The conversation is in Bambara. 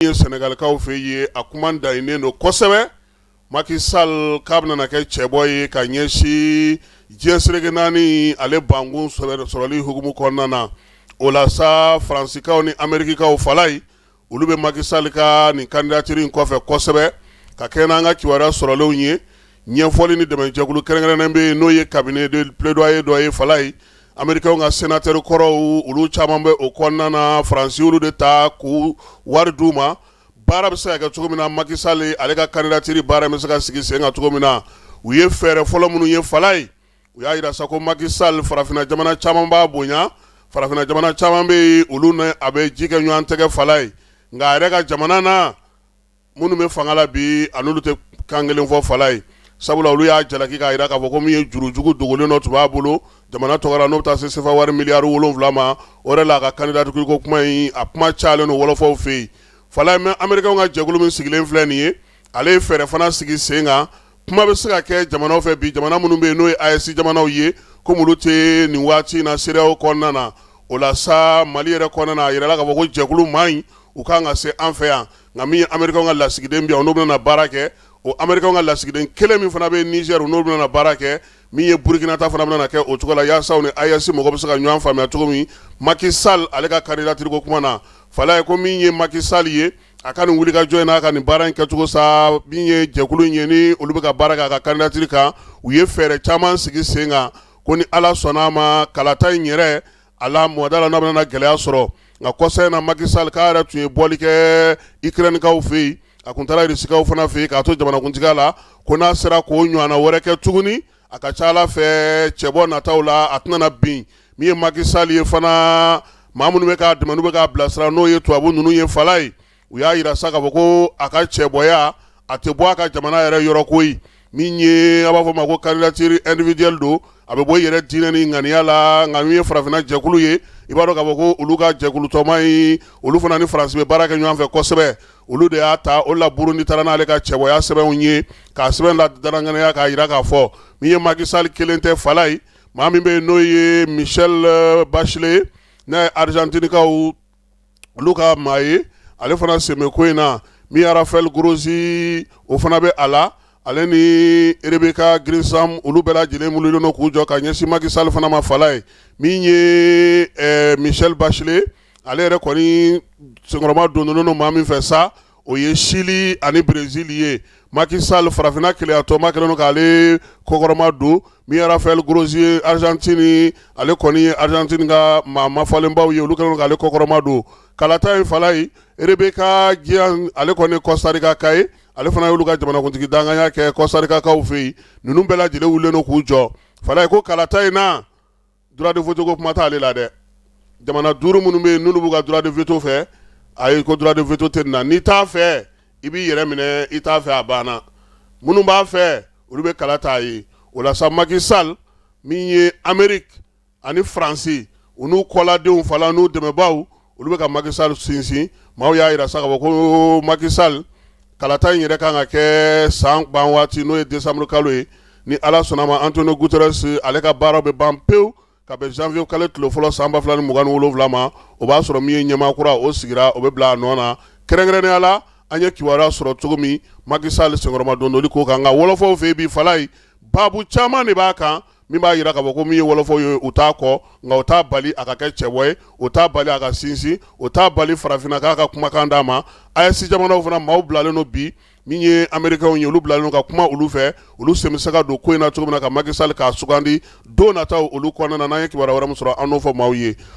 ye sɛnɛgalikaw fɛ yen a kuma daɲininen don kosɛbɛ Macky Sall k'a bɛna na kɛ cɛbɔ ye ka ɲɛsin diɲɛ seleke naani ale bankun sɔrɔli hukumu kɔnɔna na o la sa faransikaw ni amerikikaw Falayi olu bɛ Macky Sall ka nin candidature in kɔfɛ kosɛbɛ ka kɛ n'an ka kibaruya sɔrɔlenw ye ɲɛfɔli ni dɛmɛjɛkulu kɛrɛnkɛrɛnnen bɛ yen n'o ye cabinet de plaidoyer dɔ ye Falayi Americains ka senatɛri kɔrɔw olu caman bɛ o kɔnɔna na Faransi y'olu de ta k'u wari d'u ma baara bɛ se ka kɛ cogo min na Macky Sall ale ka candidature baara in bɛ se ka sigi sen kan cogo min na u ye fɛɛrɛ fɔlɔ minnu ye Falayi u y'a jira sa ko Macky Sall farafinna jamana caman b'a bonya farafinna jamana caman bɛ yen olu ni a bɛ ji kɛ ɲɔgɔn tɛgɛ Falayi nka a yɛrɛ ka jamana na minnu bɛ fanga la bi a ni olu tɛ kan kelen fɔ Falayi sabula olu y'a jalaki k'a jira k'a fɔ ko min ye jurujugu dogolen dɔ tun b'a bolo jamana tɔgɔ la n'o bɛ taa se sefa wari miliyari wolonwula ma o de la a ka candidature ko kuma in a kuma cayalen don wɔlɔfɔw fɛ yen Falayi mɛ Americains ka jɛkulu min sigilen filɛ nin ye ale ye fɛɛrɛ fana sigi sen kan kuma bɛ se ka kɛ jamanaw fɛ bi jamana minnu bɛ yen n'o ye AES jamanaw ye ko olu tɛ nin waati in na CEDEAO kɔnɔna na o la sa mali yɛrɛ kɔnɔna na a jirala k'a fɔ ko jɛkulu man ɲi u ka kan ka se an fɛ yan nka min ye Americain ka lasigiden bɛ yan, o n'o bɛna na baara kɛ, o Americain ka lasigiden kelen min fana bɛ Niger, o n'o bɛna na baara kɛ, min ye Burkina ta fana bɛna na kɛ o cogo la, yaasa u ni AES mɔgɔ bɛ se ka ɲɔgɔn faamuya cogo min, Macky Sall ale ka candidature ko kuma na, Falayi ko min ye Macky Sall ye, a ka nin wulikajɔ in n'a ka nin baara in kɛcogo sa, min ye jɛkulu in ye ni olu bɛ ka baara kɛ a ka candidature kan, u ye fɛɛrɛ caman sigi sen kan ko ni Ala sɔnn'a ma kalata in yɛrɛ a la mɔgɔda la n'a bɛna gɛlɛya sɔrɔ nka kɔsa in na Macky Sall k'a yɛrɛ tun ye bɔli kɛ Ukraine kaw fɛ yen, a tun taara Russie kaw fana fɛ yen k'a to jamanakuntigiya la, ko n'a sera k'o ɲɔgɔnna wɛrɛ kɛ tuguni, a ka ca Ala fɛ cɛbɔ nataw la, a tɛna na bin min ye Macky Sall ye fana, maa minnu bɛ k'a dɛmɛ n'u bɛ k'a bilasira n'o ye tubabu ninnu ye Falayi. u y'a jira sa k'a fɔ ko a ka cɛbɔya a tɛ bɔ a ka jamana yɛrɛ yɔrɔ koyi min ye a b'a fɔ ma ko candidature individuelle don a bɛ bɔ i yɛrɛ diɲɛ ni ŋaniya la nka min ye farafinna jɛkulu ye i b'a dɔn k'a fɔ ko olu ka jɛkulu tɔnba in olu fana ni Faransi bɛ baara kɛ ɲɔgɔn fɛ kosɛbɛ olu de y'a ta o la Burundi taara n'ale ka cɛbɔya sɛbɛnw ye k'a sɛbɛn la dangya k'a jira k'a fɔ min ye Macky Sall kelen tɛ Falayi maa min bɛ yen n'o ye Michelle Bachelet n'a ye Argentine kaw olu ka maa ye ale fana sen bɛ ko in na min ye Rafael Grossi o fana bɛ a la ale ni Rebeca Grynspan olu bɛɛ lajɛlen wulilen don k'u jɔ ka ɲɛsin Macky Sall fana ma Falayi min ye Michelle Bachelet ale yɛrɛ kɔni senkɔrɔmadonnen don maa min fɛ sa o ye Chili ani Brésil ye Macky Sall farafinna kelenyatɔnba kɛlen don k'ale kɔkɔrɔma don min ye Rafael Grossi ye Argentine ale kɔni ye Argentine ka maa ma falenbaw ye olu kɛlen k'ale kɔkɔrɔma don kalata in Falaye Rebeca Grynspan ale kɔni Costa Rica ka ye ale fana y'olu ka jamanakuntigi dankanya kɛ Costa Rica kaw fɛ yen ninnu bɛɛ lajɛlen wulilen don k'u jɔ Falaye ko kalata in na droit de veto ko kuma t'ale la dɛ jamana duuru minnu bɛ yen n'olu b'u ka droit de veto fɛ ayi ko droit de veto tɛ nin na n'i t'a fɛ i b'i yɛrɛ minɛ i t'a fɛ a banna minnu b'a fɛ olu bɛ kala t'a ye o la sa Macky Sall min ye Ameriki ani faransi u n'u kɔladenw fana n'u dɛmɛbaw olu bɛ ka Macky Sall sinsin maaw y'a jira sa k'a fɔ ko Macky Sall kalata in yɛrɛ kan ka kɛ san ban waati n'o ye décembre kalo ye ni Ala sɔnna a ma Antonio Guterres ale ka baaraw bɛ ban pewu ka bɛn janvier kalo tile fɔlɔ san 2027 ma o b'a sɔrɔ min ye ɲɛmaa kura o sigira o bɛ bila a nɔ na kɛrɛnkɛrɛnnenya la an ye kibaruya sɔrɔ cogo min Macky Sall senkɔrɔmadondoli ko kan nka wɔlɔfɔw fɛ yen bi Falaye baabu caman de b'a kan min b'a jira k'a fɔ ko min ye wɔlɔfɔw ye u t'a kɔ nka o t'a bali a ka kɛ cɛbɔ ye o t'a bali a ka sinsin o t'a bali farafinna k'a ka kumakan d'a ma AES jamanaw fana maaw bilalen don bi min ye amerikɛnw ye olu bilalen don ka kuma olu fɛ olu sen bɛ se ka don ko in na cogo min na ka Macky Sall k'a sugandi don nataw olu kɔnɔna na n'an ye kibaruya wɛrɛ min sɔrɔ an n'o fɔ maaw ye